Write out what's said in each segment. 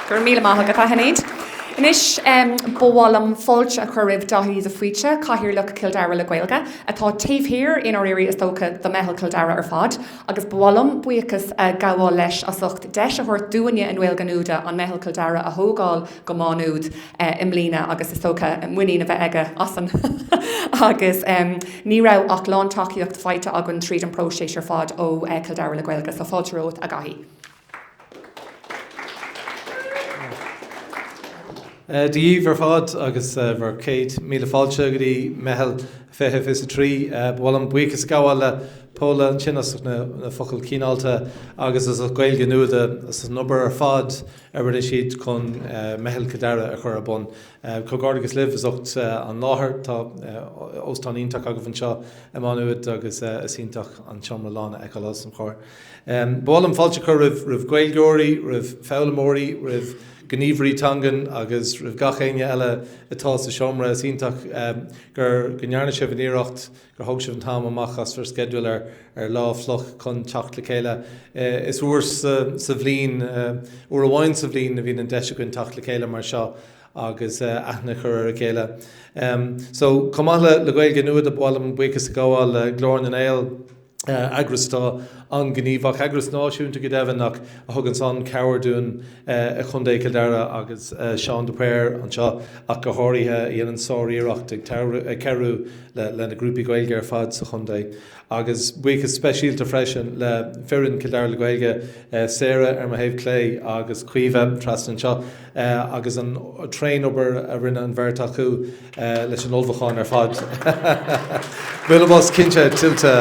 Go raibh míle maith agat, a Sinéad. Anois, ba mhaith liom fáilte a chur roimh Daithí de Faoite, Cathaoirleach Cill Dara le Gaeilge, atá taobh thiar, i ndáiríre, is dócha, de Mheitheal Chill Dara ar fad, agus ba mhaith liom buíochas a ghabháil leis as ucht deis a thabhairt dúinne i nGaeilge Nuada an Meitheal Chill Dara a thógáil go Má Nuad i mbliana agus is dócha muinín a bheith aige asainn agus ní raibh ach lántacaíocht faighte againn tríd an bpróiseas ar fad ó Chill Dara le Gaeilge, so fáilte romhat, a Dhaithí. Dia dhíbh ar fad agus bhur céad míle fáilte go dtí Meitheal 20 20 is a 3. Ba mhaith liom buíochas a ghabháil le Paula ansin as na focail cíineáilte agus is le Gaeilge Nuada as an obair ar fad a rinne siad chun Meitheal Chill Dara a chur ar bun. Comhghairdeachas libh as ucht an láthair, tá óstán iontach agaibh anseo i Má Nuad agus is iontach an seomra lán a fheiceáil os mo chomhair. Ba mhaith liom fáilte a chur roimh Ghaeilgeoirí, roimh foghlaimeoirí, roimh ghníomhairí teangan agus roimh gach éinne eile atá sa seomra. Is iontach go ndearna sibh an iarracht, gur thóg sibh an t-am amach as bhur sceideal ar lá fliuch chun teacht le chéile. Is uair sa bhliain, uair amháin sa bhliain a bhíonn an deis againn teacht le chéile mar seo agus aithne a chur ar a chéile. So chomh maith le Gaeilge Nuada, ba mhaith liom buíochas a ghabháil le Glór na nGael, eagras atá an-ghníomhach, eagras náisiúnta go deimhin, ach a thuganns an-chabhair dúinn i gContae Chill Dara agus Seán de Paor anseo ach go háirithe, a dhéanann sár-iarracht ag cabhrú le na grúpaí Gaeilge ar fad sa chontae. Agus buíochas speisialta freisin le foireann Cill Dara le Gaeilge, Sarah ar mo thaobh clé agus Caoimhe trasna anseo, agus an tréanobair a rinne an bheirt acu leis an ullmhúchán ar fad. Bualadh bos cinnte tuillte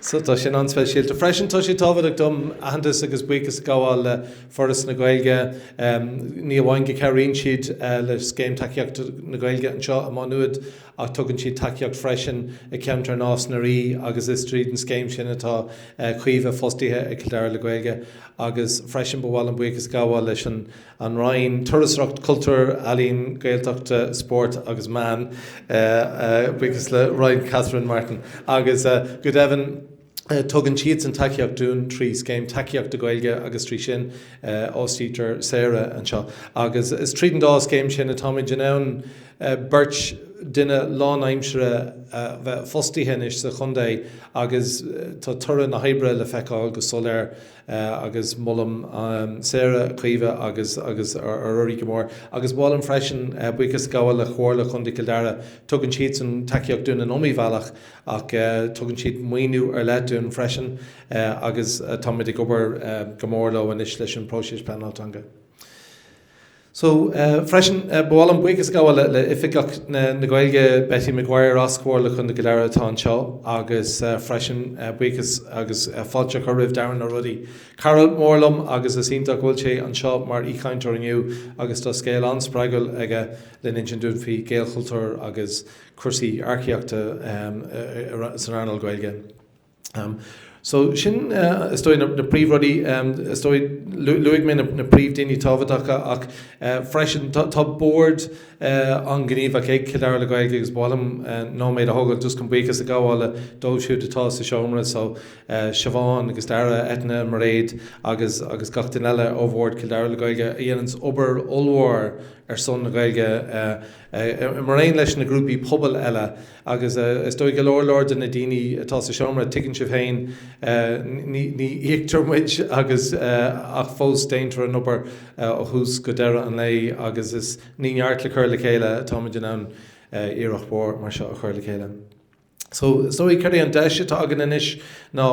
so tá sin an-speisialta. Freisin, tá sé tábhachtach dom aitheantas agus buíochas a ghabháil le Foras na Gaeilge, ní amháin go gcabhraíonn siad le Scéim Tacaíochta na Gaeilge anseo i Má Nuad, ach tugann siad tacaíocht freisin i ceantar Nás na Rí agus is tríd an scéim sin atá Caoimhe fostaithe ag Cill Dara le Gaeilge agus freisin ba mhaith liom buíochas a ghabháil leis an Roinn Turasóireacht, Cultúir, Ealaíon, Gaeltachta, Spóirt agus Meán, buíochas le Roinn Catherine Martin agus go deimhin. Tugann siadsan tacaíocht dúinn trí Scéim Tacaíochta Gaeilge agus trí sin a fhostaítear Sarah anseo agus is tríd an dá scéim sin atáimid in ann beirt duine lánaimsire a bheith fostaithe anois sa chontae agus tá toradh na hoibre le feiceáil go soiléir agus molaim Sarah, Caoimhe agus Ruairí go mór agus ba mhaith liom freisin buíochas a ghabháil le Comhairle Chontae Chill Dara, tugann siadsan tacaíocht dúinn in iomaí bhealach. Ach tugann siad maoiniú ar leith dúinn freisin agus táimid ag obair go mór leo anois leis an bpróiseas pleanála teanga. So freisin, ba mhaith liom buíochas a ghabháil le Oifigeach na Gaeilge, Betty McGuire as Comhairle Chontae Chill Dara atá anseo agus freisin buíochas agus fáilte a chur roimh Darren Ó Rodaigh, cara mór liom agus is iontach go bhfuil sé anseo mar aoichainteoir inniu agus tá scéal an-spreagúil aige lena insint dúinn faoi Ghaelchultúr agus cúrsaí earcaíochta san earnáil Ghaeilge. So sin is dóigh na príomhrudaí. Is dóigh, luaigh mé na príomhdaoine tábhachtacha ach freisin tá bord an-ghníomhach ag Cill Dara le Gaeilge agus ba mhaith liom nóiméad a thógáil just chun buíochas a ghabháil dóibh siúd atá sa seomra. So Siobhán agus Dara, Eithne, Mairéad agus gach duine eile ó bhord Cill Dara le Gaeilge a dhéanann obair ollmhór ar son na Gaeilge, Mar aon leis na grúpaí pobail eile, agus is dóigh go leor leor de na daoine atá sa seomra, tuigeann sibh féin, ní íoctar muid agus ach fós déantar an obair ó thús go deireadh an lae agus is ní neart le cur le chéile atáimid in ann iarracht mhór mar seo a chur le chéile. So, is dóigh, céard é an deis atá againn anois ná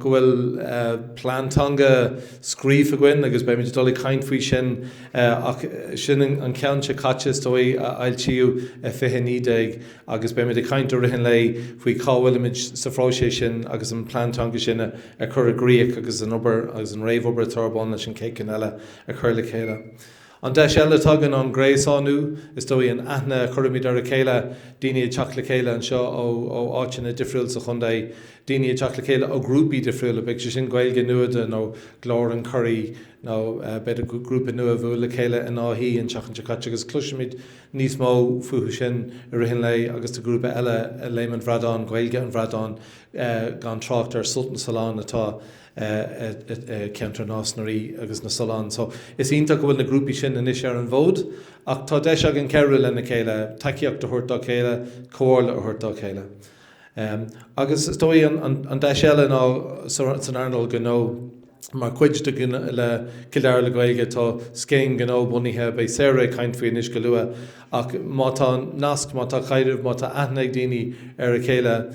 go bhfuil plean teanga scríofa againn agus beimid ag dul ag caint faoi sin ach sin an ceann seo caite, is dóigh, a fhoilsíodh i 2019 agus beimid ag caint i rith an lae faoi cá bhfuilimid sa phróiseas sin agus an plean teanga sin a chur i gcrích agus an obair agus an réamhobair atá ar bun leis an chéad cheann eile a chur le chéile. An deis eile atá againn an gréasánú, is dóigh, an aithne a chuirimid ar a chéile, daoine ag teacht le chéile anseo ó áiteanna difriúil sa chontae, daoine ag teacht le chéile ó ghrúpaí difriúla, bíodh sé sin Gaeilge Nuada nó Glór an Churraigh nó b'fhéidir grúpa nua a bhuail le chéile in Áth Í an tseachtain seo caite agus cloisfimid níos mó fúthu sin i rith an lae agus tá grúpa eile, Léim an Bhradáin, Gaeilge an Bhradáin, gan trácht ar Sult na Sollán atá. i gceantar Nás na Ríogh agus na Sollán so is iontach go bhfuil na grúpaí sin anois ar an bhfód ach tá deis againn cabhrú lena chéile, tacaíocht a thabhairt dá chéile, comhairle a thabhairt dá chéile. Agus is dóigh an deis eile ná san earnáil ghnó, mar chuid de Cill Dara le Gaeilge tá scéim gnó bunaithe, beidh Sarah ag caint faoi anois go luath, ach má tá nasc, má tá caidreamh, má tá aithne ag daoine ar a chéile,